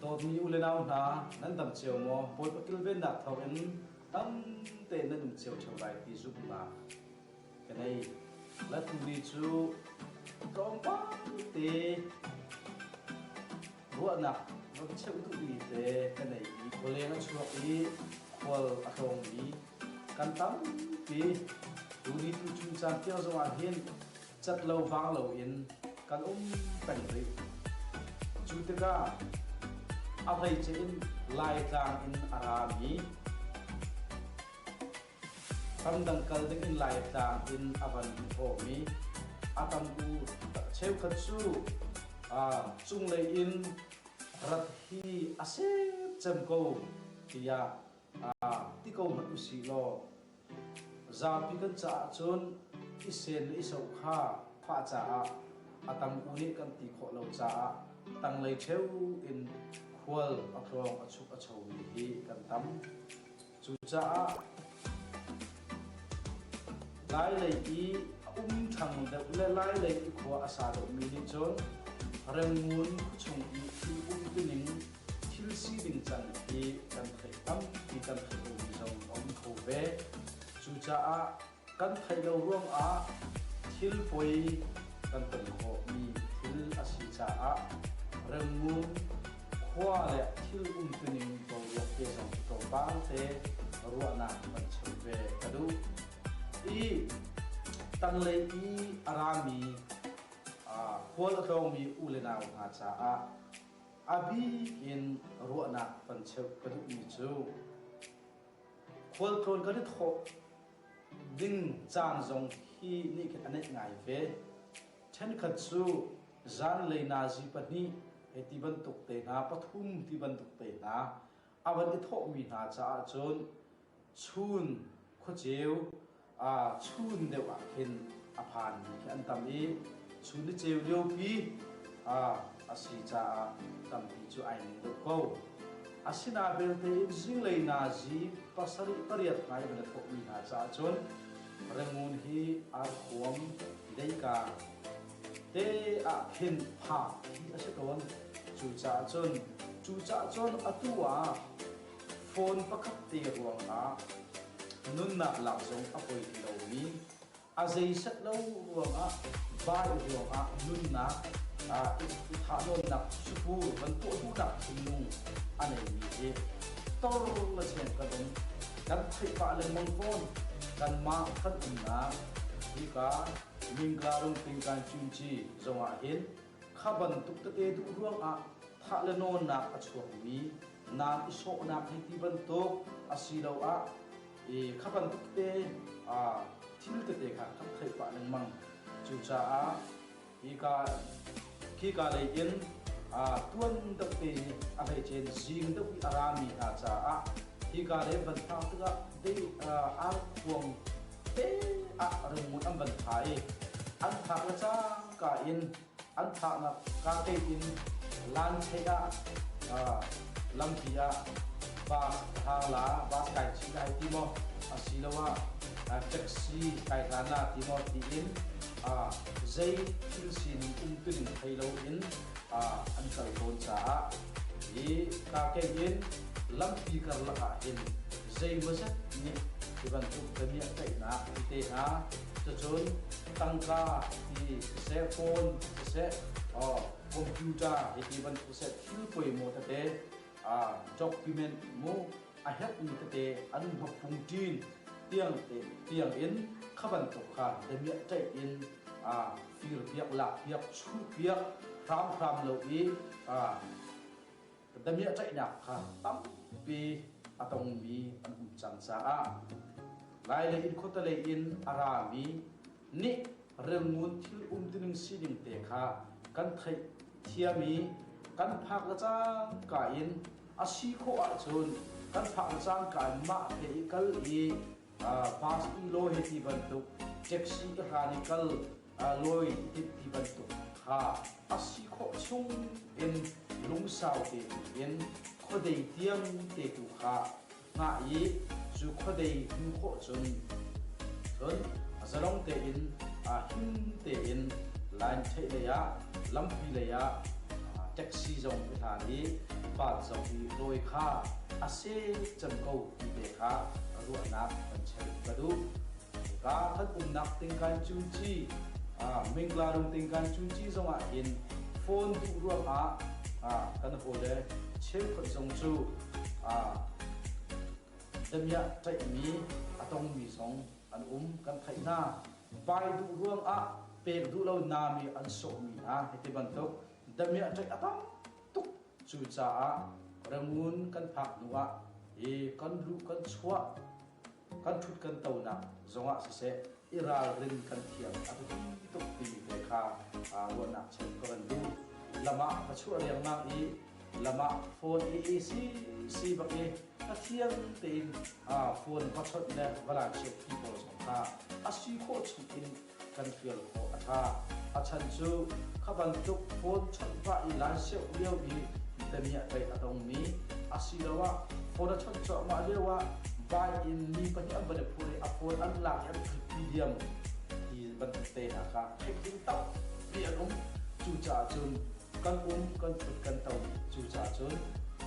Dawtmi ulenau hna, nan tam cio maw? Bawi patul vennak thawkin tam tein nan um cio ṭheo lai ti zumh hlah. Ka nei. Latuli cu tlawmpal te ruahnak va cheuh duhmi te ka nei i khualeng a chuak i khual a tlawngmi kan tampi tuni tu chun caan tiang zongah hin cat lo vang loin kan um peng rih. Cu tikah a hleice in Laitlang in a rami ramdang kal dingin Laitlang in a van thawmi a tamku tak cheukhat cu cunglei in rat hi a se cem ko tiah ti ko hmanh usih law Zapi kan caah cun i sen le i so kha fah caah a tam u nih kan ti khawh lo caah tanglei ṭheu in khual a tlawng a chuk a chomi hi kan tam. Cucaah lailei i a um ṭhang deuh le lailei i khua a sa deuhmi nih cun renngun khuachung i thil um tining thil siding can hi kan theih tampi kan theih lomi zong a um kho ve. Cucaah kan theih lo ruangah thil poi kan ton khawhmi thil a si caah rengmung khua le thil umtuning boruak te zong tlawmpal te ruahnak kan cheu ve ka duh. I tanglei i a rami uh, khual a tlawngmi u le nau hna caah a bik in ruahnak kan cheuh ka duhmi cu khualtlawn kan i thawh ding caan zong hi nih khin a neih ngai ve ṭhenkhat cu zanlei nazi pahnih hei ti bantuk te hna pathum ti bantuk te hna a van i thawhmi hna caah cun chun khuaceu chun deuh ah khin a phanmi khi an tam i chun i ceu liopi a si caah tampi cu ai ning deuh ko. Asinain belte in zinglei nazi pasarih pariat ngai an thawkmi hna caah cun rengun hi ar huam leika te ah khin phah hi a si tawn. Cucaah cun cucah cun atu ah phone pakhat te ruangah nunnak lak zong a poi ti lomi, a zeiset lo ruangah bai ruangah nunnak thahnawnnak sukuu van tuah duhnak thinlung a neimi hi torlaceng kan um, kan theih pah lengmang fawn, kanmah kan umnak hika Mingka Rungtling Kan Cunci zongah hin Kha bantuk tete duh ruangah thah le nawnnak a chuakmi nam i sawhnak hei ti bantuk asiloah i kha bantuk te thil tete kha kan theih pah lengmang. Cucaah hika khika lei in tuan deuh te a hei cen zing deuh i a rami hna caah hika lei van phak tikah dei har khuang te ah rengngun an van thai. An phak le cang ka in an thahnak kate in lanchei ah lampi ah bus hang la bus kai chi kai ti maw asiloah taxi kai hlan la ti maw tiin zei thil sin um tuning thei loin an kal tawn caah i kake in lampi karlak ah hin zei maw zet nih hi bantuk damiah tlaihnak te hna cucun tangka hi siseh phone siseh computer hiti bantuk siseh thil poimawh tete document mu a herhmi tete an hmapung ṭin tiang te tiang in kha bantuk kha damiah ṭaih in fir piak lak piak chuh piak hram hram lo i Ka damiah tlaihnak kha tampi a tongmi an um cang caah lai le in khuatalei in a rami nih remngun thil um tining sining te kha kan theih thiam i kan phak le cangka in a si khawh ahcun kan phak le cangka in mah te i kal i Pastor lawi ti bantuk, taxi hlan i kal lawi ti bantuk kha a si khawh chung in lungsau te in khuadei tiang te tu kha ngah i cu khuadei hmu khawh cun cun zalong tein him tein line theih lei ah lampi lei ah taxi zong i hlan i van zong i lawi kha a se can ko Tete kha ruahnak kan cheuh ka duh. Ka kan umnak tengkan cuci, Menglaru tengkan cuci zongah hin phone duh ruangah kan hawle cheukhat zong cu damiah tlaihmi a tongmi zong an um kan theih hna. Vai duh ruangah pek duh lonak i an sawhmi hna hiti bantuk damiah tlaih a tam Cucaah rangun kan phak hnuah i kan luh kan chuah kan ṭhut kan tonak zongah siseh i ralrin kan thiam a biapi tukmi te kha ruahnak cheu ka van duh. Lam ah ka chuah riangmang i lam ah phone i AC si bak i Pathian tein phone va chawnh le va lansiak ti pawl zong kha a si khawh chung in kan fial khawh a tha. A chan cu kha bantuk phone chawnh pah i laiseuh lio i Italiah tei a dongmi asiloah phone a chawnh cuahmah lioah buy-in mi pahnih an va le phur i a phone an lak i an thutpi diam ti bantuk tehna kha theih ding tampi an um. Cucaah cun kan um kan kut kan to, cucaah cun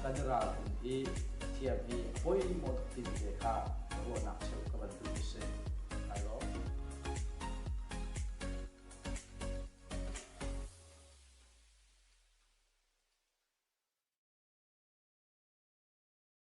kan i ralring i thiam i bawi i mawh tuk timi te kha ruahnak cheuh ka bantuk a si. Ai lawm.